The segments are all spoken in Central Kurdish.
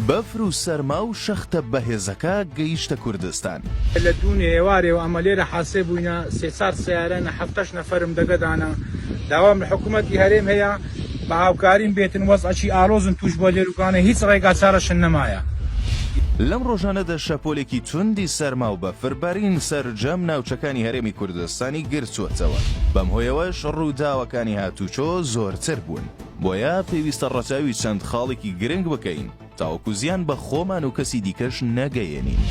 بەفر و سەرما و شەختە بەهێزەکە گەیشتە کوردستان. لە دوونێ ئێوارێ و ئەمە لێرە حاسێ بووینە سێ چار سەیارە نە حەفتەش نەفەرم دەگە دانە داوام لە حکوومەتی هەرێم هەیە بە هاوکاریم بێتن وەزعەکی ئالۆزن تووش بووە لێرووکانە هیچ ڕێگا چارەشن نەمایە. لەم ڕۆژانەدا شەپۆلێکی توندی سەرما و بەفر بارین سەرجەم ناوچەکانی هەرێمی کوردستانی گرتووەتەوە بەم هۆیەوەش ڕووداوەکانی هاتووچۆ زۆرتر بوون. بۆیە پێویستە ڕەچاوی چەند خاڵێکی گرنگ بکەین تاوەکو زیان بە خۆمان و کەسی دیکەش نەگەیەنین.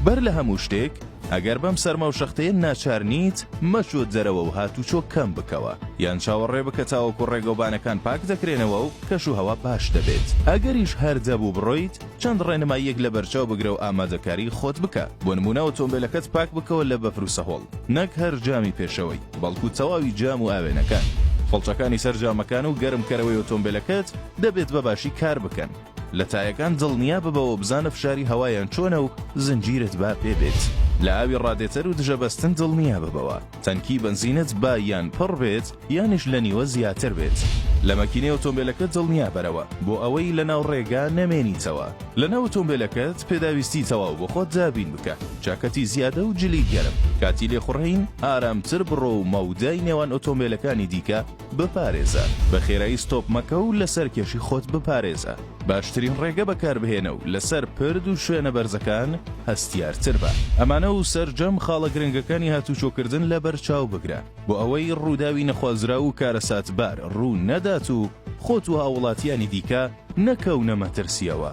بەر لە هەموو شتێک، ئەگەر بەم سەرما و شەختەیە ناچار نیت، مەچۆ دەرەوە و هاتوچۆ کەم بکەوە، یان چاوەڕێ بکە تاوەکو ڕێگەوبانەکان پاک دەکرێنەوە و کەشوهەوا باش دەبێت. ئەگەریش هەر دەبوو بڕۆیت، چەند ڕێنماییەک لەبەرچاو بگرە و ئامادەکاریی خۆت بکە، بۆ نموونە ئۆتۆمبێلەکەت پاک بکەوە لە بەفر و سەهۆڵ، نەک هەر جامی پێشەوەی. بەڵکو تەواوی جام و ئاوێنەکان، فڵچەکانی سەر جامەکان و گەرمکەرەوەی ئۆتۆمبێلەکەت دەبێت بە باشی کار بکەن. لە تایەکان دڵنیا ببەوە و بزانە فشاری هەوایان چۆنە و زنجیرت با پێ بێت. لە ئاوی ڕادێتەر و دژە بەستن دڵنیا ببەوە. تەنکی بەنزینت با یان پڕ بێت یانیش لە نیوە زیاتر بێت. لە مەکینەی ئۆتۆمبێلەکەت دڵنیا بەرەوە بۆ ئەوەی لەناو ڕێگا نەمێنیتەوە. لەناو ئۆتۆمبێلەکەت پێداویستی تەواو بۆ خۆت دابین بکە. جاکەتی زیادە و جلی گەرم، کاتی لێخوڕین ئارامتر بڕۆ و مەودای نێوان ئۆتۆمبێلەکانی دیکە بپارێزە، بە خێرایی ستۆپ مەکە و لە سەرکێشی خۆت بپارێزە، باشترین ڕێگە بەکاربهێنە و لەسەر پرد و شوێنە بەرزەکان هەستیارتر بە. ئەمانە و سەرجەم خاڵە گرنگەکانی هاتووچۆکردن لەبەرچاو بگرە، بۆ ئەوەی ڕووداوی نەخوازراو و کارەساتبار ڕوو نەدات و خۆت و هاووڵاتییانی دیکە نەکەونە مەترسییەوە.